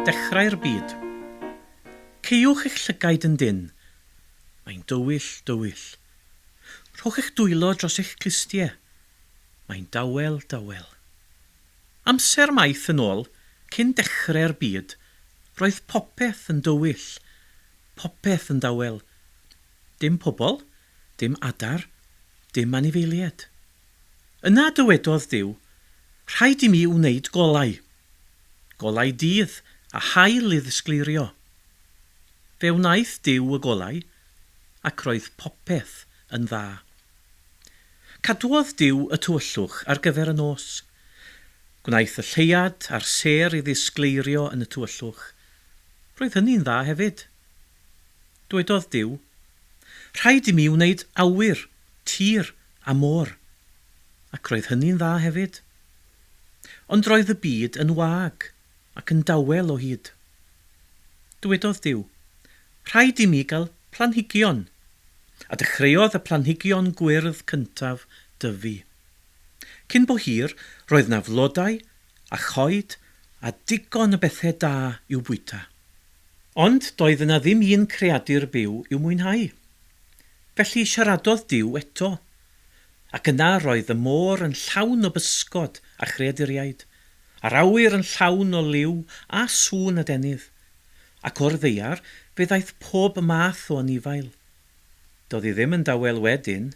Dechrau'r byd. Caewch eich llygaid yn dynn. Mae'n dywyll, dywyll. Rhowch eich dwylo dros eich clustie. Mae'n dawel, dawel. Amser maith yn ôl, cyn dechrau'r byd, roedd popeth yn dywyll, popeth yn dawel, Dim pobl, dim adar, dim anifeilied. Yna dywedodd Duw, Rhaid i mi wneud golau. Golau dydd a haul i ddisgleirio. Fe wnaeth Duw y golau, ac roedd popeth yn dda. Cadwodd Duw y tywyllwch ar gyfer y nos. Gwnaeth y lleuad a'r sêr i ddisgleirio yn y tywyllwch. Roedd hynny'n dda hefyd. Dwedodd Duw, Rhaid i mi wneud awyr, tir a môr. Ac roedd hynny'n dda hefyd. Ond roedd y byd yn wag ac yn dawel o hyd. Dwedodd Duw, Rhaid i mi gael planhigion. A dechreuodd y planhigion gwyrdd cyntaf dyfu. Cyn bo hir, roedd 'na flodau a choed a digon o bethe da i'w bwyta. Ond doedd yna ddim un creadur byw i'w mwynhau. Felly siaradodd Duw eto. Ac yna roedd y môr yn llawn o bysgod a chreaduriaid, a'r awyr yn llawn o liw a sŵn adenydd. Ac o'r ddaear fe ddaeth pob math o anifail, Do'dd i ddim yn dawel wedyn.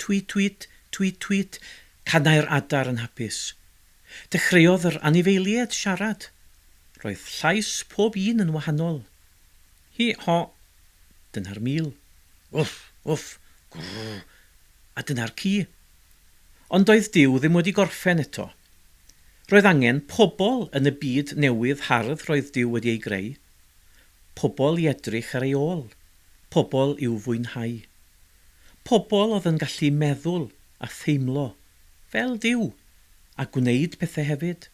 Twiit twiit, twiit twiit, canai'r adar yn hapus. Dechreuodd yr anifeilied siarad. Roedd llais pob un yn wahanol. Hi ho! Dyna'r mil. Wff! Wff! Gwrr! A dyna'r ci. Ond doedd Duw ddim wedi gorffen eto. Roedd angen pobl yn y byd newydd hardd roedd Duw wedi ei greu. Pobl i edrych ar ei ôl. Pobl i'w fwynhau. Pobl oedd yn gallu meddwl a theimlo fel Duw a gwneud pethau hefyd.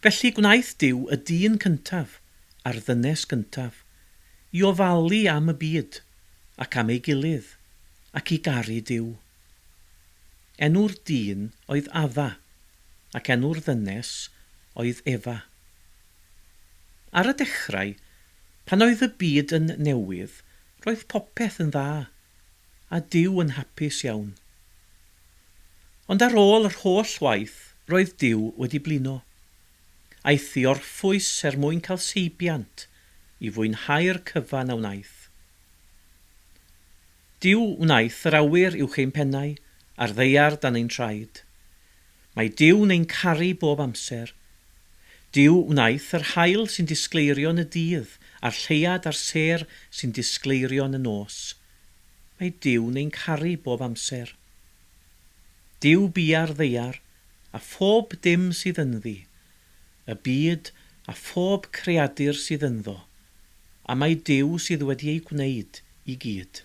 Felly gwnaeth Duw y dyn cyntaf a'r ddynes gyntaf i ofalu am y byd ac am ei gilydd ac i garu Duw. Enw'r dyn oedd Adda ac enw'r ddynes oedd Efa. Ar y dechrau, pan oedd y byd yn newydd, roedd popeth yn dda, a Duw yn hapus iawn. Ond ar ôl yr holl waith, roedd Duw wedi blino. Aeth i orffwys er mwyn cael seibiant i fwynhau'r cyfan a wnaeth. Duw wnaeth yr awyr uwch ein pennau, a'r ddaear dan ein traed. Mae Duw yn ein caru bob amser. Duw wnaeth yr haul sy'n disgleirio yn y dydd, a'r lleuad a'r sêr sy'n disgleirio yn y nos. Mae Duw yn ein caru bob amser. Duw bia'r ddaear, a phob dim sydd ynddi, y byd a phob creadur sydd ynddo, a mae Duw sydd wedi eu gwneud i gyd.